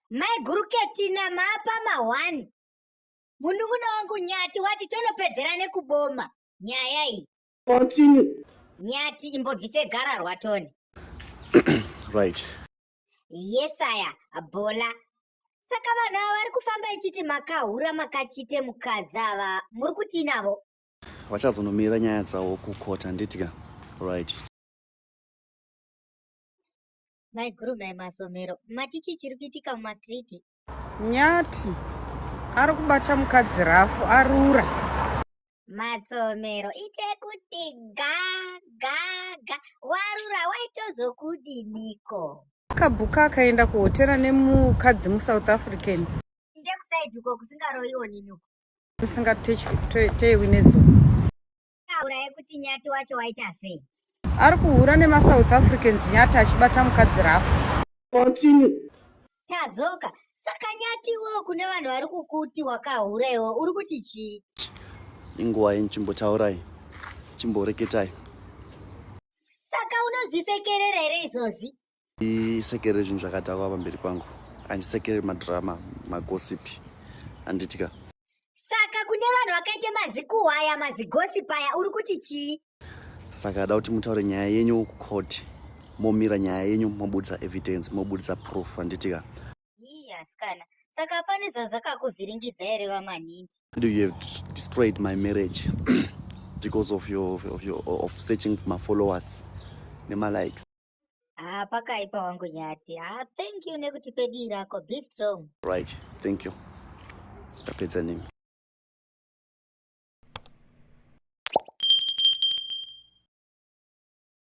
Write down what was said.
maiguru ketina mapa mahwani mununguna wangu nyati wati tonopedzera nekuboma nyaya iyi continue nyati imbobvise gara rwatoni right yesaya bola saka vanhu ava vari kufamba ichiti makahura makachite mukadzi ava muri kutii navo vachazonomira nyaya dzavo kukota nditya right Maiguru mai masomero mati chii chiri kuitika mumastriti? Nyati ari kubata mukadzi rafu arura. Matsomero ite kuti ga ga ga warura waitozokudiniko? Akabuka akaenda kuhotera nemukadzi muSouth African. Ndekusaidiko kusingaroiwo nini uko. Kusingatei winezuva. auraye kuti nyati wacho waita sei ari kuhura nemasouth africans nyati achibata mukadzi rafu continue tadzoka saka nyati iwewo kune vanhu vari kukuti wakahura iwo uri kuti chii inguva yeni chimbotaurai chimboreketai saka unozvisekerera here izvozvi isekere zvinhu zvakadhakwa pamberi pangu andisekere madrama magosipi anditya saka kune vanhu vakaita mazikuhwaya mazigosipi aya uri kuti chii saka ada kuti mutaure nyaya yenyu kucourt momira nyaya yenyu mobudisa evidence mobudisa proof anditya ii asikana saka pane zvazvakakuvhiringidza here vamanhinzi do you have destroyed my marriage because of your, of your of searching for my followers nemalikes Ah, pakaipa wangu nyati. Ah, thank you nekuti pedi rako. Be strong. Right, thank you. Tapedza nemi.